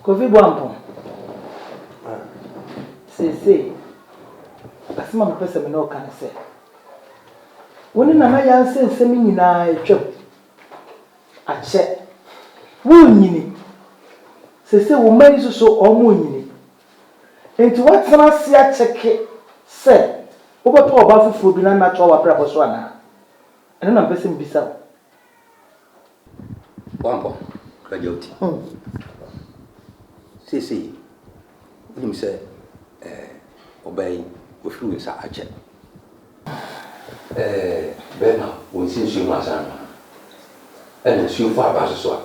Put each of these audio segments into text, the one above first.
Kofi Boampong, Ah, seesei, asɛm a mepɛ sɛ me ne wo ka ne sɛ, wo ne Nana Yanseh nsɛm nyinaa atwam akyɛ. Wonnyini. Seesei wo mma yi nso so wɔrennyini. Enti woatena ase akyɛke sɛ wobɛpɛ ɔbaa foforɔ bi na no atoa w'abrabɔ so anaa? Ɛno na mepɛ sɛ mebisa wo. Wankɔ Krajewty. Seesei wonim sɛ ɔbaa yi wafiri wo nsa akyɛ. Bɛrima wɔnsi nsuo mu ansa annom no. Ɛna nsuo fɔ aba nso so a,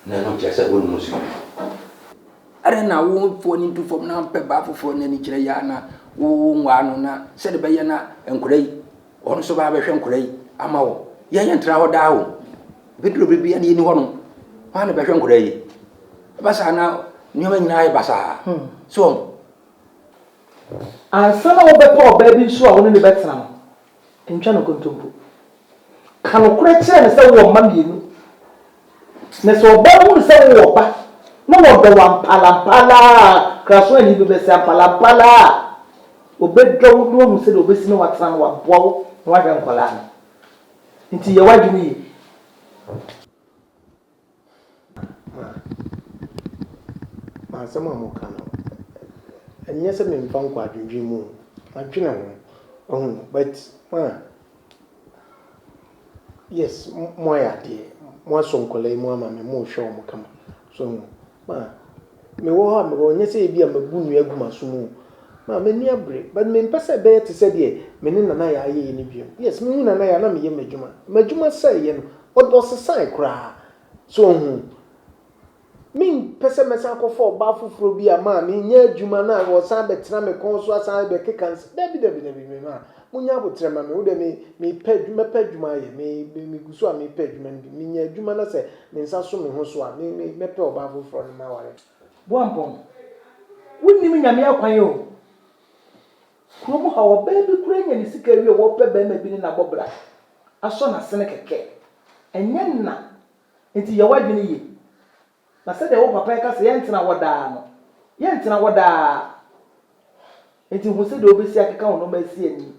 na ɛno nkyerɛ sɛ wonnom nsuo no bi. Adɛn na wo foɔ ani du fam na wompɛ baa foforɔ na ani kyerɛ yɛ a na wonwaa no na sɛdeɛ ɛbɛyɛ na nkwadaa yi Wɔn nso baa bɛhwɛ nkora yi ama wo. Yɛn yɛn tra hɔ daa o. Bɛduru bere bi a ne yɛni hɔ nom. Wɔn na bɛhwɛ nkora yi. Ɛba saa na nneɛma nyinaa yɛ basaa. Hmm. So wɔn. Ansa na wobɛpɛ ɔbaa bi nso a wo ne ne bɛtena no, ntwa no nkontompo. Ka nokorɛ kyerɛ no sɛ wowɔ mma mmienu. Na sɛ ɔbaa hunu sɛ wowɔ ɔba, na wɔdɔ wo ampalampala a, Kraswani bi bɛse ampalampala a, ɔbɛdɔ wo na wahu sɛdeɛ ɔbɛsi ne watena na waboa wo na wahwɛ nkwadaa no. Nti yɛ w'adwene yie. Ma asɛm a moka no, ɛnyɛ sɛ memfa nkɔ adwendwene mu o, madwene ho, wahu, but ma. Yes mo ayɛ adeɛ mo asɔ nkwadaa yi mu ama me mo rehwɛ wɔn kama so ho ma mewɔ hɔ a mewɔ nyɛ sɛ ebi a mabu nnua gu m'aso mu ma m'ani abere but mempɛ sɛ ɛbɛyɛ te sɛ deɛ me ne nana yɛ ayɛ yɛ no biom yes mehu nana yɛ na meyɛ m'adwuma m'adwuma sɛ yɛ no ɔsesae koraa so ho. Mempɛ sɛ mɛsan akɔfa ɔbaa foforɔ bi a ma menyɛ adwuma na ɔsan bɛtena me kɔn so asan bɛkeka nsɛm. Dabi, dabi, dabi, me mma, monyɛ aboterɛ mma me. Wo deɛ me, mepɛ adwuma, mɛpɛ adwuma ayɛ. Me, me, megu so a mepɛ adwuma no bi. Menya adwuma na sɛ me nsa so me ho so a, me, me, mɛpɛ ɔbaa foforɔ no maware no. Boampɔn, wonnim Nyame akwan o. Kurom ha, ɔbaa bi koraa nya ne sika awie a, ɔpɛ barima bi ne no abɔ bra, asɔ n'asene kɛkɛ. Ɛnyɛ nna Enti yɛ w'adwene yie. Na sɛdeɛ wo papa reka sɛ yɛntena hɔ daa no, yɛntena hɔ daa. Enti hu sɛdeɛ wobɛsi akeka wo nnoɔma asi ani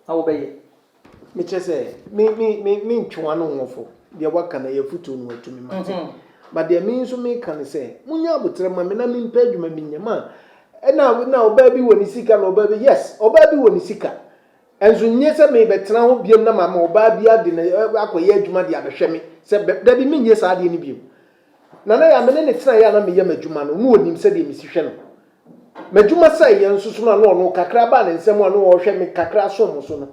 na wobɛyɛ. Mekyerɛ sɛ, me, me, me, me ntwewa no ho fɔ, deɛ woaka no yɛ afotuo no watumi, mate. But deɛ me nso meka ne sɛ, monyɛ aboterɛ mma me na mempɛ adwuma bi nyɛ. Ma, ɛna, na ɔbaa bi wɔ ne sika na ɔbaa bi, yes, ɔbaa bi wɔ ne sika. Nso nye sɛ merebɛtena hɔ biom na mama ɔbaa bi ade na akɔyɛ adwuma de abɛhwɛ me sɛ bɛ. Dabi, menyɛ saa adeɛ no biom. Nana Yaa, me ne no tenaeɛ a na meyɛ m'adwuma no, na ɔnim sɛdeɛ mesi hwɛ no. M'adwuma sɛeɛ nso so no a na ɔno, kakra a baa ne nsam a na ɔrehwɛ me kakra a som so no,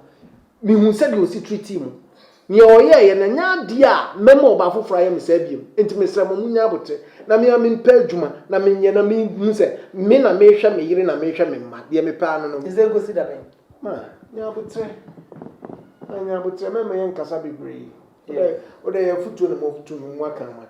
mehuu sɛdeɛ ɔsi treatii mu. Nea ɔyɛeɛ no, ɛnyɛ adeɛ a mɛma ɔbaa foforɔ ayɛ me saa biom. Enti mesrɛ mo, monnya aboterɛ. Na me ara mempɛ adwuma na menyɛ na mehu sɛ me na merehwɛ me yere na merehwɛ me mma. Deɛ mepɛ ara ne no. Ɛsɛ nkosi da bɛn? Ma nyɛ aboterɛ, ma nyɛ aboterɛ, mɛma yɛnkasa bebree. Wodɛ, wodɛ yɛ afutuo na motu no, moaka no mate.